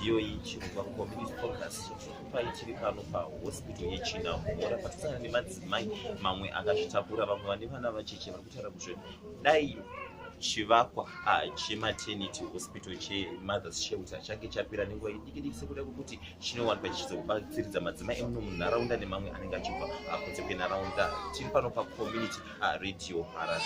midziyo iyi chirova community focus chokupai chiri pano pahospital yechina mhora patisana nemadzimai mamwe akazvitakura vamwe vane vana vacheche vari kutaura kuzve dai chivakwa ah, chematernity hospital chemothers shelter change chapera nenguva idikidiki sekuda kwekuti chinowanikwa chichizobatsiridza madzimai emuno munharaunda nemamwe anenge achibva ah, kunze kwenharaunda tiri pano pacommunity ah, radio harare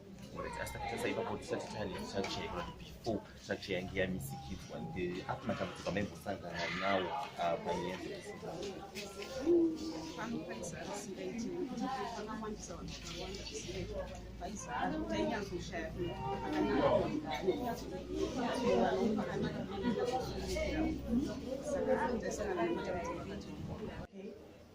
asi takatasa ipapo tisati tane structure ikona kuti before structure yange yamisikidzwa apo matambudziko amaimbosangana nawo ah, panyaya dzese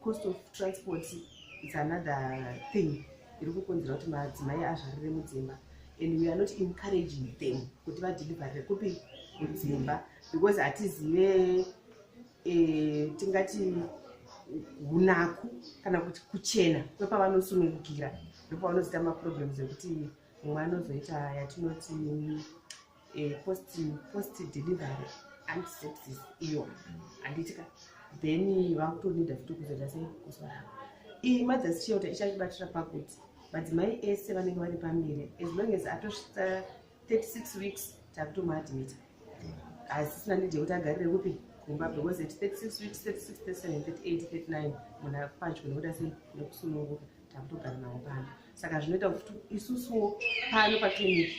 cost of transport is another thing iri kukonzera kuti madzimai azvarire mudzimba and we are not encouraging them kuti vadeliverire kupi mudzimba because hatizive e, tingati unaku kana kuti kuchena kwepavanosunungukira ndopavanozoita maproblems ekuti mumwe anozoita yatinoti eh, post post delivery antisepsis iyo handitika then vakutonida futi kuzoita sei kusvara iyi mothers shelter ichatibatira pakuti madzimai ese vanenge vari pamberi as long as atosvitsa 36 weeks takutomaadmita hasisina nidi yekuti agarire kupi kumba because at 36 weeks 36 37 38 39 munhu akupadyo nekuda sei nekusununguka takutogara nawo pano saka zvinoita kuti isusuwo pano paclinic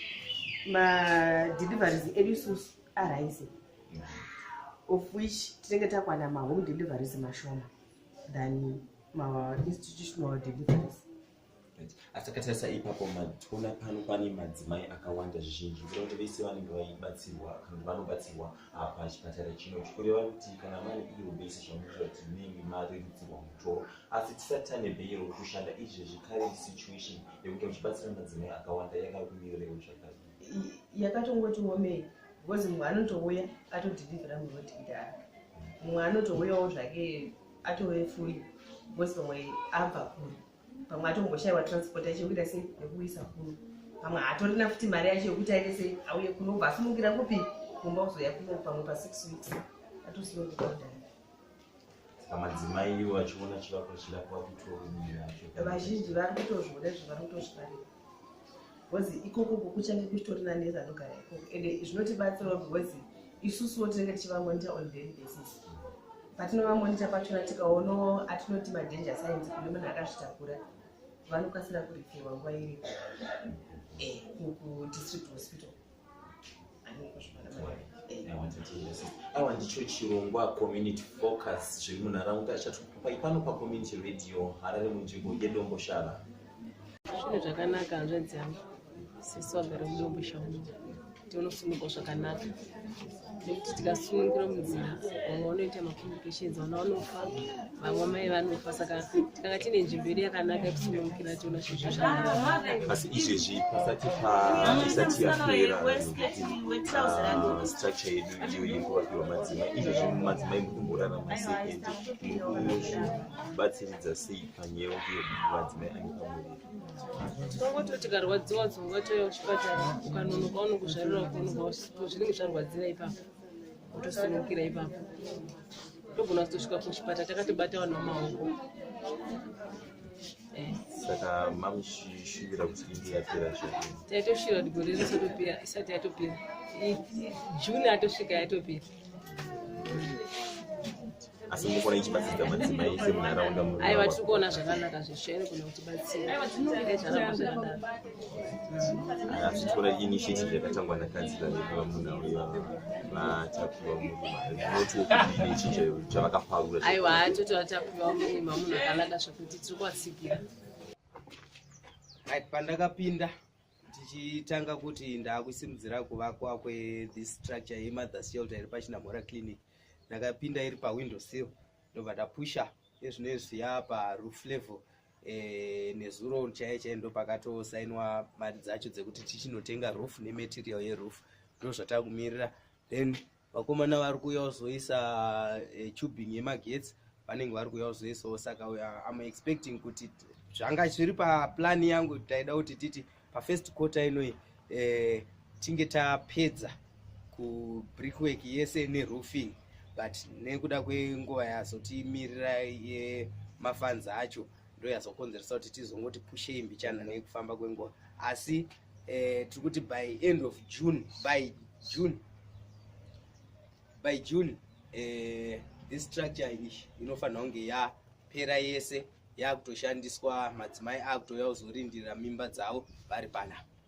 madeliveries edu isusu arise of which tinenge takwana mahome deliveries mashoma than mainstitutional deliveries asakatarisa ipapo matona pano pane madzimai akawanda zvizhinji kuda kuti vese vanenge vaibatsirwa kana kuti vanobatsirwa ah, pachipatara chino chikureva kuti kana mari iyo vese zvamuita kuti munenge marerutsirwa mutoro asi tisati tane beyiro kushanda izvezvi current situation yekuti uchibatsira madzimai akawanda yakakumirirei zvakadi yakatongoti womei because mumwe anotouya atodhilivhira mumwe wetidhaa mumwe anotouyawo zvake atove fuli because pamwe abva kuri pamwe atomboshaiwa transport yacho yekuita sei yekuisa kuno pamwe haatorina futi mari yacho yekuti aite sei auye kuno ubva asunungira kupi kumba kuzoya kuno pamwe pasix weeks atosiyokukaudai pamadzimai ivo vachiona chivakwa chirapa kutoomira vazhinji vari kutozviona izvo vari kutozvifarira bcause ikoko kukuchange kuchitori nanesi anogara ikoko and zvinotibatsirawo bcause isusuwo tinenge tichivamonita on daily basis patinovamonita pachona tikaonawo atinoti madanger science kune munhu akazvitakura vanokasira kurifirwa nguva iripo eh, kudistrict hospital awa ndicho chirongwa community focus zviri munharaunda chatupai pano pacommunity radio harare munzvimbo yedomboshava zvinhu zvakanaka hanzvanzi yangu sisi wagara mudomboshava tiunosimugwa zvakanaka nekuti tikasunungura munzira vamwe vanoita macomplications vana vanofa vamwe mai vanofa saka tikanga tine nzvimbo yedu yakanaka yekusunungukira tiona zvizvo zvaasi izvezvi pasati paisati yapera ah, structure yedu iyo yekuvakiwa madzima izvezvi madzimai mukumborarama sei ende mukuzvibatsiridza sei panyewo iyo madzimai ane pamuviri Tongoti tikarwadziwa dzongatoya kuchipatara ukanonoka unokuzvarira ukonoka zvinenge zvarwadzira ipapo utosunukira ipapo togona kutosvika kuchipatara takatobata vanhu vamaoko eh. saka mamushivira kuti inge yapera zvake taitoshivira kuti gore rese topera isati yatopera june atosvika yatopera asi mukona ichibatsira madzimai ese munharaunda aiwa tiri kuona zvakanaka zveshere kuna kuti batsiraazvitora initiative yakatangwa nakadzi vavepa munhu auya vatapiwa murumainotiokudinechinja chavakaparura aiwa atoti vatapiwa murima munhu akanaka zvekuti tiri kuvatsikira pandakapinda tichitanga kuti ndaakusimudzira kuvakwa kwethis structure yemother shelter iri pachinamhora clinic ndakapinda iri pawindow sill ndobva ndapusha ezvino izvi yaa paroof level eh, nezuro chaiye chaiye ndopakatosainwa mari dzacho dzekuti tichinotenga roof nematerial yeroof ndozvatakumirira then vakomana vari kuuya kuzoisa e, tubing yemagetsi vanenge vari kuuya kuzoisawo saka am expecting kuti zvanga zviri paplani yangu taida kuti titi pafirst quarter inoi e, eh, tinge tapedza kubrickwork yese neroofing but nekuda kwenguva yazotimirira yemafanzi acho ndoyazokonzeresa kuti tizongoti pushei mbichana nekufamba kwenguva asi eh, tiri kuti by end of june by june by june eh, this structure ish inofanira kunge yapera yese yakutoshandiswa madzimai akutouya kuzorindirira mimba dzavo vari panapa